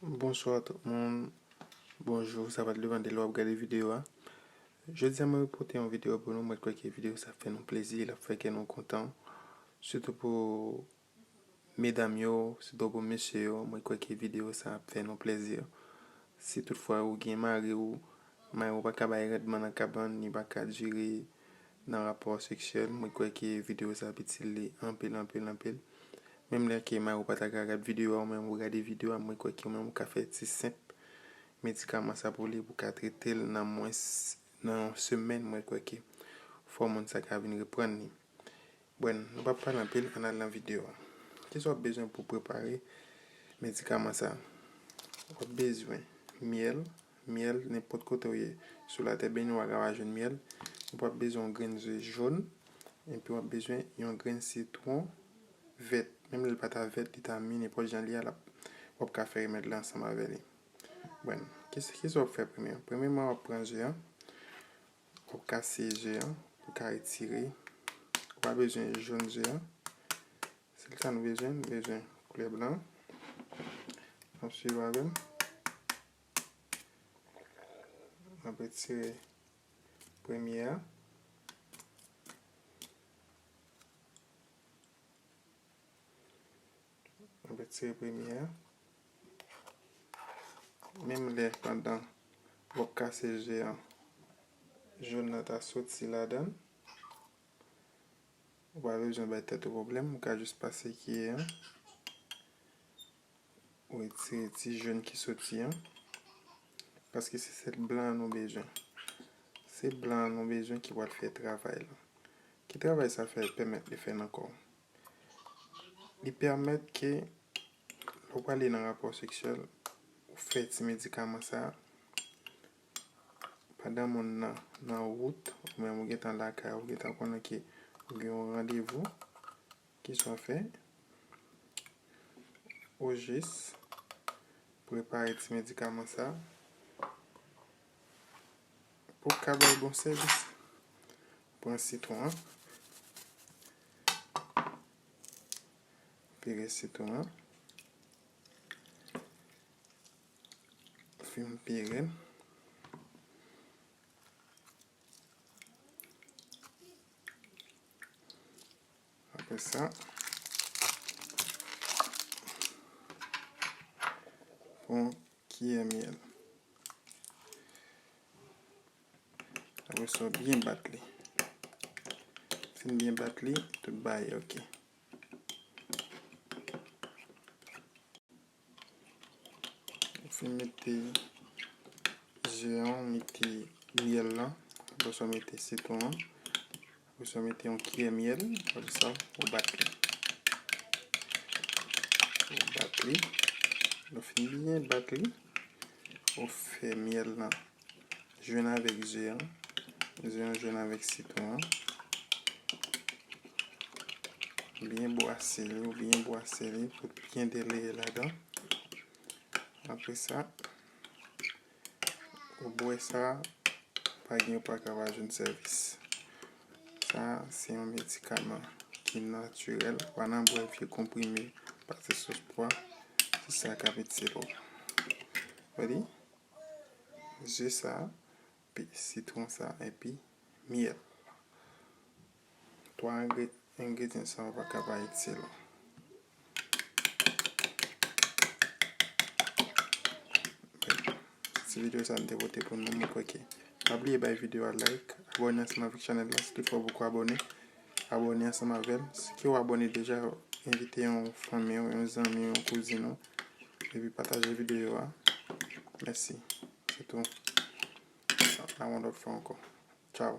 Bonsoir tout moun, bonjour sa va depan de lè wap gade video a Jodi a mwen pote yon video pou nou, mwen kwè ke video sa ap fè nou plezi, l ap fè kè nou kontan Sitou pou medam yo, sitou pou mesye yo, mwen kwè ke video sa ap fè nou plezi Si tout fwa ou gen mari ou, mari ou pa ka bay randman nan kabann, li pa ka diri nan rapò seksyèl mwen kwè ke video sa ap itil li anpil anpil anpil menm lè ke mariw pata ka gad video a ou menm ou gade video a mwen kwè ke ou menm ou ka fè ti senp medikaman sa pou li pou ka tretel nan mwens nan yon semèn mwen kwè ke fò moun sa ka vin reprann li Buen, nou pap pale anpil ann al nan video a. Kisa wap bezwen pou prepare medikaman sa? Wap bezwen myèl, myèl nenpòt kote ou ye sou latè beni ou a kapab jwenn myèl, epi wap bezwen yon grenn ze jòn, epi wap bezwen yon grenn sitwon vèt, menm lè li pa ta vèt li ta mi nenpòt jan li ye lap wap ka fè remèd la ansanm avè li. Buen, kisa wap fè premye? Premyeman wap pran ze an, Ou kase ze an pou ka etire. Ou pa bezwen jòn ze an. Sèl sa nou bezwen, nou bezwen koulè blan. Nap swiv avèm. Nap etire premye a. Mwen retire premye a. Menm lè pandan wap kase je an, jaune nan ta soti ladan. Ou pa bezwen bay tèt ou pwoblèm, ou ka jis pase kiyè an. Ou retire ti jaune ki soti an. Paske se sèl blan an nou bezwen. Se blan an nou bezwen ki pral fè travay lan. Ki travay sa fè pèmèt li fè nan kò ou? Li pèmèt ke lè w prale nan rapò seksyèl, ou fè ti medikaman sa a pandan moun nan nan wout oubyen ou gentan lakay ou gentan konnen ke ou gen yon randevou ki sa w fè? Ou jis prepare ti medikaman sa a pou w ka bay bon sèvis. Pran sitwon an. Pire sitwon an. Fin pire l. Apre sa, pran kiyè myèl. Apre sa w byen bat li. Fin w byen bat li, tout bagay ok. Ou fin mete ze an, ou mete myèl lan, apre sa w mete sitwon an. Apre sa mete yon kiyè myèl. Apre sa ou bat li. Ou bat li. Lè ou fin byen bat li. Ou fè myèl la jwenn avèk ze an. Ze an jwenn avèk sitwon an. Byen bwase li. Ou byen bwase li pou byen deleye ladan. Apre sa. Ou bwè sa, pa gen ou pa ka pa jwenn sèvis. Sa a se yon medikaman ki natirèl. Pa nan bwè vye konprime pase sòs pwa. Se sa k ap itile ou. Ou di? Ze sa, pi sitwon sa epi myèl. 3 engredyen sa yo paka pa itil. Ti video sa m te pote pou nou mwen kwè ke pa bliye bay video a like abone ansanm avèk chanèl la si tout fò poko abone abone ansanm avèm si ke ou abone deja envite yon fanmi ou yon zanmi ou yon kouzin ou epi pataje video a mèsi se tou a yon lòt fwa ankò tchao.